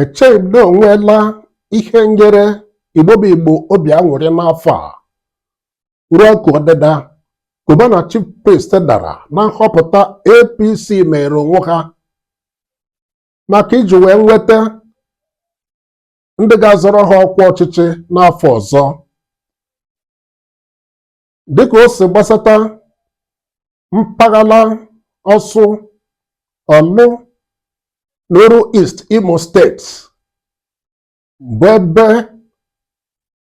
echeghị m na o nweela ihe nyere Igbo bụ Igbo obi aṅụrị n'afọ a ruo ka ọdịda Cubana Chief Priest dara na nhọpụta APC meere onwe ha maka iji wee nweta ndị ga-azọrọ ha ọkwa ọchịchị n'afọ ọzọ dịka o si gbasata mpaghara ọsụ ọlụ n'oru East Imo steeti bụ ebe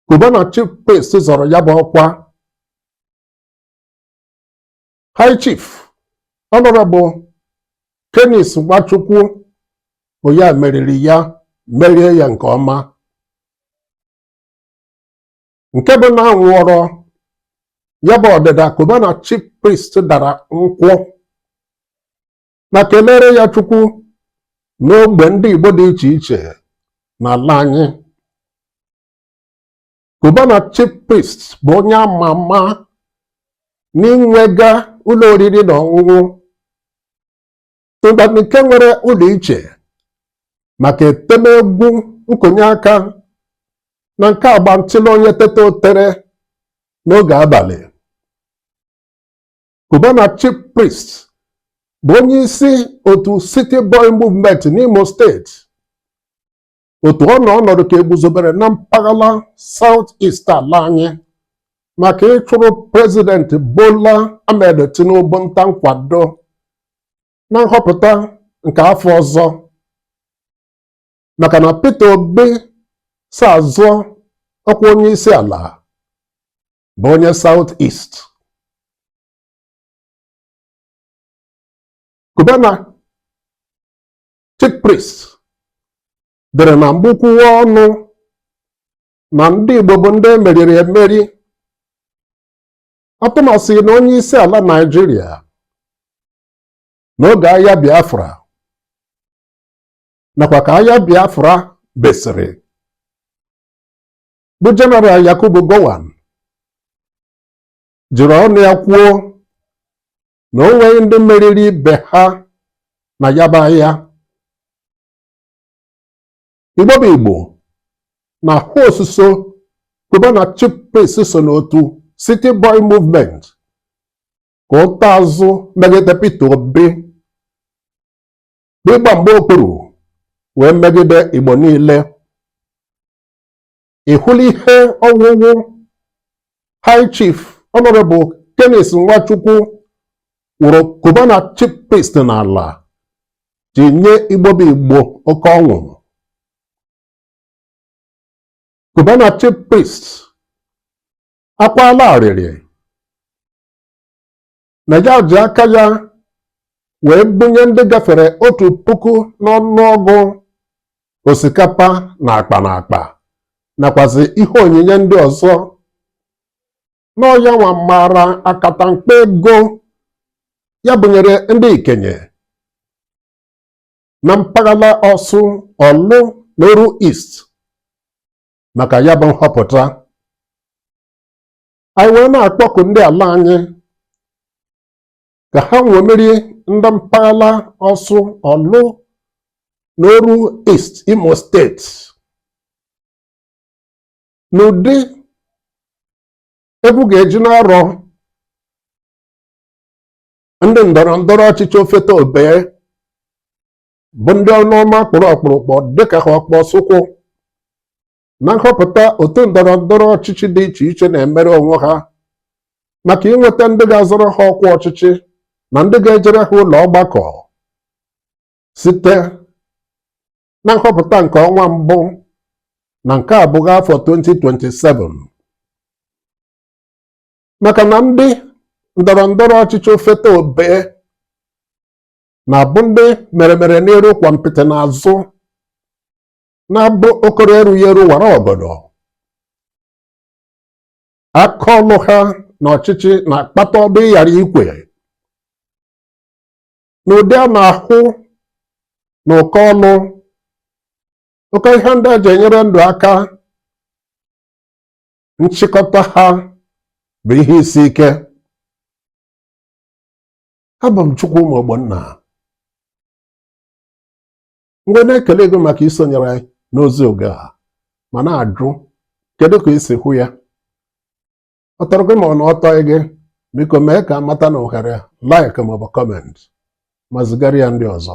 Cubana Chief Priest zọrọ ya bụ ọkwa High Chief Honorable Canice Nwachukwu bụ ya meriri ya merie ya nke ọma nke bụ na a ṅụọrọ ya bụ ọdịda Cubana chief priest dara nkwụ ma kelere ya chukwu n'ogbe ndị igbo dị iche iche n'ala anyị Cubana chief priest bụ onye ama ama n'inwega ụlọ oriri na ọṅụṅụ ngwa nke nwere ụlọ iche maka etem egwu nkonye aka na nke agba ntịlụ onye teta o tere n'oge abalị Cubana Chief Priest bụ onye isi otu City Boy Movement n'Imo steeti otu ọ nọ ọnọdụ ka e guzobere na mpaghara South East ala anyị maka ịchụrụ prezidenti Bola Ahmed Tinubu nta nkwado na nhọpụta nke afọ ọzọ maka na Peter Obi so azọ ọkwa onye isi ala bụ onye South East Cubana chief priest dere na mbụ kwuwa ọnụ na ndị Igbo bụ ndị e meriri emeri atụmasị na onye isi ala Naịjirịa n'oge agha Biafra nakwa ka agha Biafra besịrị bụ Jeneral Yakubu Gowon jiri ọnụ ya kwuo na o nweghị ndị meriri ibe ha na ya bụ agha igbo bụ igbo na-ahụ osuso Cubana chief priest so n'otu city boy movement ka ụta azụ megide Peter Obi bụ ịgba mgba okpuru wee megide igbo niile ị hụla ihe ọwụwụ high chief honorable Canice Nwachukwu wụrụ Cubana chief priest n'ala ji nye Igbo bụ Igbo oke ọṅụ Cubana chief priest akwaala arịrị na ya ji aka ya wee bunye ndị gafere otu puku n'ọnụọgụ osikapa n'akpa n'akpa nakwazi ihe onyinye ndị ọzọ na ọ ya nwa maara akatamkpo ego ya bunyere ndị ikenye na mpaghara Orsu Orlu na Oru East maka ya bụ nhọpụta anyị wee na-akpọku ndị ala anyị ka ha ṅomiri ndị mpaghara Orsu Orlu na Oru East Imo steeti n'ụdị Igbo ga-eji na-arọ ndị ndọrọ ndọrọ ọchịchị ofeta obee bụ ndị ọnụ ọma kpụrụ ọkpụrụkpụ dịka ọkpa Nsukka na nhọpụta otu ndọrọ ndọrọ ọchịchị dị iche iche na-emere onwe ha maka inweta ndị ga-azọrọ ha ọkwa ọchịchị na ndị ga-ejere ha ụlọ ọgbakọ site na nhọpụta nke ọnwa mbụ na nke abụọ afọ 2027 maka na ndị ndọrọ ndọrọ ọchịchị ofeta obee na-abụ ndị mere mere n'iru kwampịtị n'azụ na-abụ okoro erughị eru wara ọgọdọ aka ọlụ ha n'ọchịchị na-akpata ọdụ ịghara ikwe n'ụdị a na-ahụ na ụkọ ọlụ ụkọ ihe ndị e ji enyere ndụ aka nchịkọta ha bụ ihe isi ike abụ m Chukwuma Ogbonna m wee na-ekele gị maka isonyere anyị n'ozi oge a ma na-ajụ kedu ka i si hụ ya ọ tọrọ gị ma ọ na ọ tọghị gị biko mee ka a mata n'ohere like maọbụ comment ma zigara ya ndị ọzọ